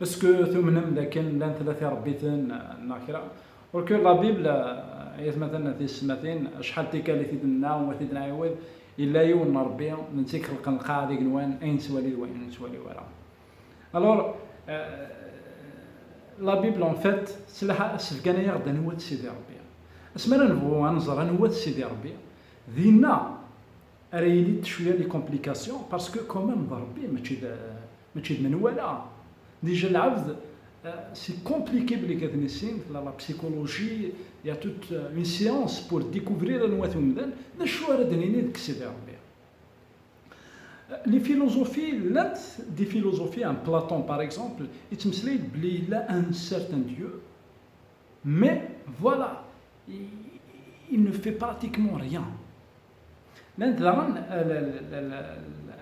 Esku tumnem dakken llan tlata irebbiten neɣ kra? Ur que la Bible, ayatmaten tisetmatin, acḥal tikkal i t-id-nenna u t-id-nɛiwed, yella yiwen n Rebbi, d netta i ixelqen lqaɛa d igenwan, ayen nettwali d wayen ur nettwali ara. Alors, la Bible en fait, sefgan-aɣ-d anwa-t Sidi Rebbi. Asmi ara nebɣu ad nẓer anwa-t Sidi Rebbi, dinna ara yili-d cwiya les complications, parce que quand même d Rebbi mačči d, Mačči d menwala, dija lɛebd c'est compliqué belli ad nissin, tella la psychologie, il y a toute une science pour découvrir anwa-t umdan, d acu ara d-nini deg Sidi Rebbi? Les philosophies llant des philosophies am Platon par exemple yettmeslay-d belli yella un certain Dieu mais voilà il ne fait pratiquement rien. Llant daɣen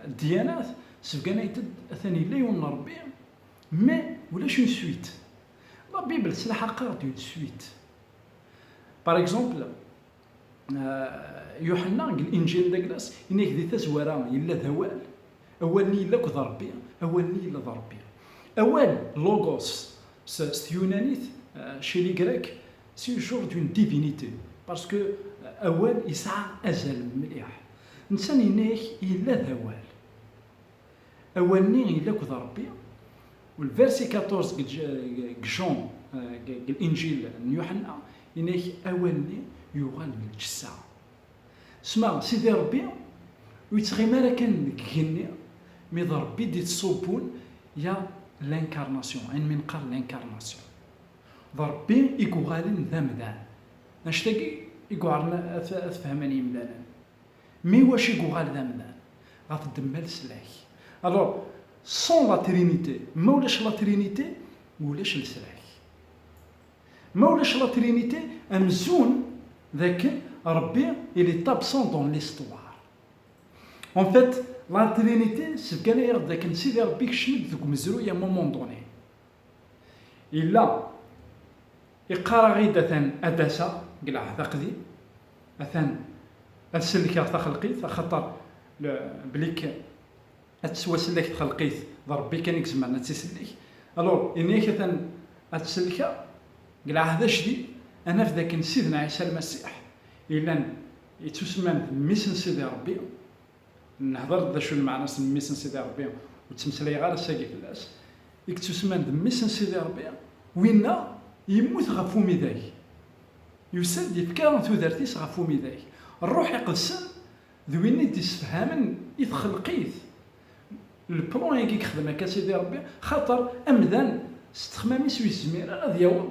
ddyanat sbganayt-d atan yella yiwen n Rebbi, mais ulac une suite. La Bible s laḥaqeṛ-d une suite. Par exemple, Yuḥenna deg Linǧil d Aglas ini-ak di tazwara yella d Awal, Awal-nni yella akk d Rebbi, Awal-nni yella d Rebbi. Awal, logos, s tyunanit, chez les Grecs, C'est une chose d'une divinité parce que awal yesɛa azal mliḥ. Nsan yenna-ak yella d awal. Awal-nni yella akked Rebbi. Le verset 14 deg Jean deg Injil n Yuḥenna yenna-ak awal-nni yuɣal d lǧessa. Sma Sidi Rebbi ur yettɣimi ara kan deg igenni mi d Rebbi d-yettṣubbun ya l'incarnation, ayen mi nqal l'incarnation. D Ṛebbi i yuɣalen d amdan. Mačč tagi i yuɛren ad t-fehmen yimdanen. Mi iwacu i yuɣal d amdan? Ɣef ddemma leslak. Alors, sans la Trinité, ma ulac la Trinité, ulac leslak. Ma ulac la Trinité, amzun d akken Ṛebbi il est absent dans l'histoire. En fait, la Trinité sbeggan-aɣ-d d akken Sidi Ṛebbi ikcem-d deg umezruy à un moment donné. Yella iqqar-aɣ-id atan ad d-aseɣ deg lɛehd aqdi, atan ad sellkeɣ taxelqit, axaṭer belli kan ad tettwasellek txelqit d Rebbi kan i izemren ad tt-isellek. Alur, ini-ak atan ad tt-sellkeɣ deg lɛehd ajdid, ad naf d akken Sidna Ɛisa Lmasiḥ, yellan yettusemman-d Mmi-s n Sidi Rebbi, Nhedr-d d acu n lmeɛna-s n mmi-s n Sidi Ṛebbi, ur ttmeslayeɣ ara ass-agi fell-as, i yettusemman d mmi-s n Sidi Ṛebbi, winna yemmut ɣef umidag, yusa-d yefka tudert-is ɣef umidag, Ṛṛuḥ Iqedsen d win i d-issefhamen i txelqit leplan-agi i yexdem akka Sidi Ṛebbi, xaṭer amdan s ttexmam-is ur yezmir ara ad yaweḍ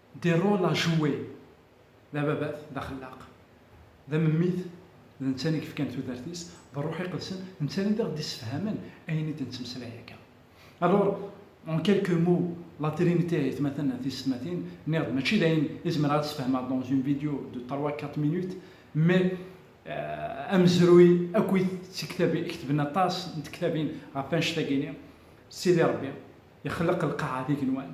Des rôles à jouer, d ababat, d axellaq, d amemmit, d netta i yefkan tudert-is d Rruḥ Iqedsen, d netta i ɣ-d-issefhamen ayen i d-nettmeslay akka. Alors, en quelques mots, la Trinité, aytmaten tiysetmatin, nniɣ-d mačči d ayen i zemreɣ ad sefhmeɣ dans une vidéo de trois, quatre minutes, mais amezruy akkit d tiktabin, ketben aṭas n tektabin ɣef annect-agi-ni, Sidi Rebbi ixelleq lqaɛa d igenwan,